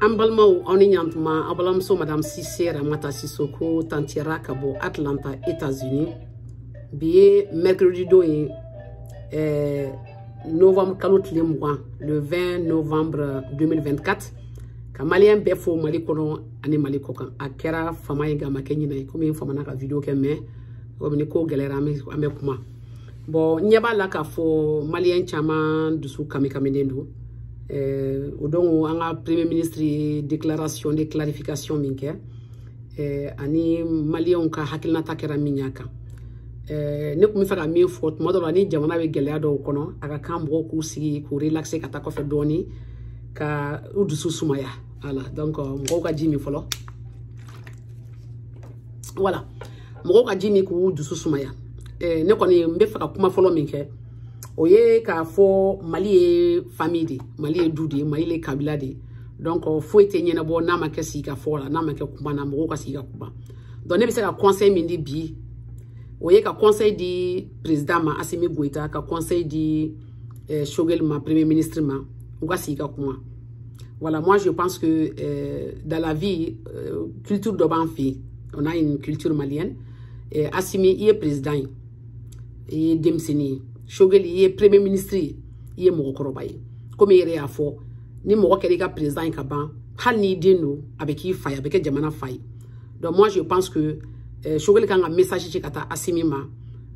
an balimaw aw ni ɲantuma aw balimamuso madame sise ramata sisoko tanti ra ka bɔ atlanta états-unis bi ye mercredi don ye eh, novembre kalo tile mugan le 20 novembre 2024 ka maliyɛn bɛɛ fo mali kɔnɔ ani mali kɔkan a kɛra fama ye nka a ma kɛ ɲinɛ ye komi n famana ka video kɛ mais komi ni ko gɛlɛyara an bɛ kuma bon n ɲɛ b'a la k'a fɔ maliyɛn caman dusu kamikaminen don eh, donc an ka premier ministre ye déclaration de clarification min kɛ eh, ani maliyɛnw ka hakilinata kɛra min y'a kan eh, ne tun bɛ fɛ ka min fɔ tuma dɔ la ni jamana bɛ gɛlɛya dɔw kɔnɔ a ka kan mɔgɔw k'u sigi k'u relaxer ka taa kɔfɛ dɔɔnin ka u dusu sumaya voilà donc mɔgɔw ka ji min fɔlɔ voilà mɔgɔw ka ji min k'u dusu sumaya eh, ne kɔni n bɛ fɛ ka kuma fɔlɔ min kɛ o ye k'a fɔ mali ye famille de mali ye du de mali ye kabila de donc foyi tɛ ɲɛnabɔ n'a ma kɛ sigi ka fɔ la n'a ma kɛ kuma na mɔgɔw ka sigi ka kuma donc ne bɛ se ka conseil min di bi o ye ka conseil di président ma asimi goyita ka conseil di eh, Shogel ma, premier ministre ma, u ka sigi ka kuma. Voilà, moi je pense que euh, dans la vie, euh, culture de b'an fɛ, on a une culture malienne. Et Assimi, i ye président ye, i ye denmisɛnnin ye. Shogel, i ye premier ministre ye, i ye mɔgɔkɔrɔba ye. Comme i n'a fɔ, ni mɔgɔ kɛra président ye ka ban hali n'i den don a bɛ k'i fa ye a bɛ kɛ jamana fa ye donc moi je pense que eh, sogɛli kan ka message ci ka taa asimi ma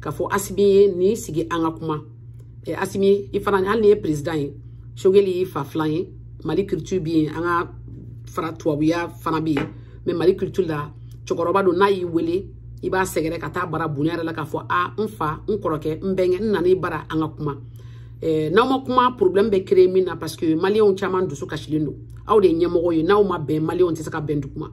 k'a fɔ asimi ye nin sigi an ka kuma eh, asimi i fana hali n'i ye président ye sogeli y'i fa filan ye mali culture bɛ yen an ka fara tubabuya fana bɛ yen mais mali culture la cɛkɔrɔba don n'a y'i wele i b'a sɛgɛrɛ ka taa a bara bonya yɛrɛ la k'a fɔ a n fa n kɔrɔkɛ n bɛnkɛ n nana i bara an ka kuma eh, n'aw ma kuma problème bɛ créer min na parce que maliyɛnw caman dusu kasilen don aw de ye ɲɛmɔgɔ ye n'aw ma bɛn maliyɛnw tɛ se ka bɛn duguma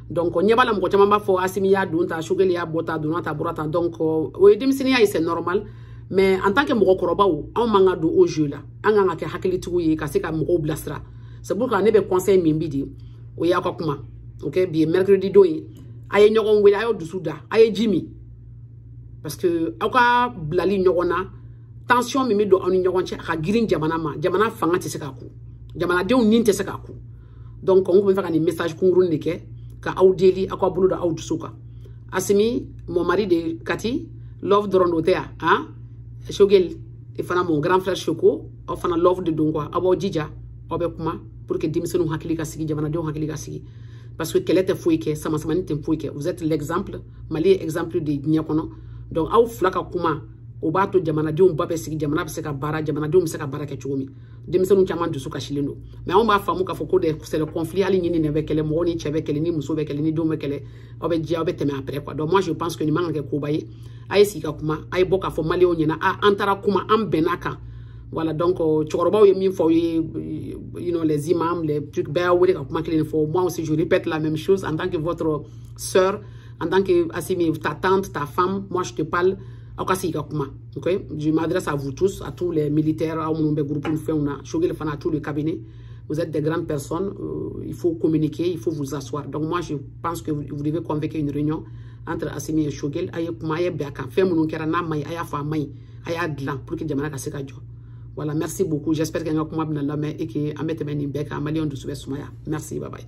donc ɲɛ b'a la mɔgɔ caman b'a fɔ asimi y'a don tan sogeli y'a bɔ tan donna tan bɔra tan donc o ye denmisɛnninya ye c'est normal mais en tant que mɔgɔkɔrɔbaw anw man ka don o jeu la an kan ka kɛ hakilitigiw ye ka se ka mɔgɔw bilasira c'est pourquoi ne bɛ conseil min bi di o y'aw ka kuma ok bi ye mercredi don ye a ye ɲɔgɔn wele a y'aw dusu da a ye ji min parce que aw ka bilali ɲɔgɔn na tension min bɛ don aw ni ɲɔgɔn cɛ a ka girin jamana ma jamana fanga tɛ se k'a ku jamanadenw ni tɛ se k'a ku donc n tun bɛ fɛ ka nin message kunkuruni de kɛ ka aw deli aw k'aw bolo da aw dusu kan Assimi mon mari de kati love dɔrɔn don tɛ yan han Choguel i fana mon grand frère shoko o fana love de don quoi aw b'aw jija aw bɛ kuma pour que denmisɛnninw hakili ka sigi jamanadenw hakili ka sigi parce que kɛlɛ tɛ foyi kɛ samasamani tɛ foyi kɛ vous êtes l'exemple mali ye exemple de diɲɛ kɔnɔ donc aw fila ka kuma o b'a to jamanadenw ba bɛ sigi jamana bɛ se ka baara jamanadenw bɛ se ka baara kɛ cogo min denmisɛnninw caman dusu kasilen don mais anw b'a faamu k'a fɔ ko de c'est le conflit hali ɲin ni nɛn bɛ kɛlɛ mɔgɔ ni cɛ bɛ kɛlɛ ni muso bɛ kɛlɛ ni denw bɛ kɛlɛ aw bɛ jɛ aw bɛ tɛmɛ après quoi donc moi je pense que nin man ka kɛ koba ye a ye sigi ka kuma a ye bɔ k'a fɔ maliyɛnw ɲɛna a an taara kuma an bɛnna a kan voilà donc euh, cɛkɔrɔbaw ye min fɔ aw ye euh, you know les imams les trucs bɛɛ y'aw wele ka kuma kelen de fɔ moi aussi je répète la même chose en tant que votre sœur en tant que Assimi ta tante ta femme moi je te parle aw ka sigi ka kuma ok je m'adresse à vous tous à tous les militaires aw minnu bɛ groupe ni fɛnw na Choguel fana à tout le cabinet vous êtes des grandes personnes euh, il faut communiquer il faut vous asseoir donc moi je pense que vous, vous devez convoquer une réunion entre Assimi et Choguel a ye kuma a ye bɛn a kan fɛn minnu kɛra n'a man ɲi a y'a fɔ a man ɲi a y'a dilan pour que jamana ka se ka jɔ voilà merci beaucoup j'espère que n ka kuma bɛna lamɛn et que an bɛ tɛmɛ nin bɛɛ kan maliyɛnw dusu bɛ sumaya merci bye bye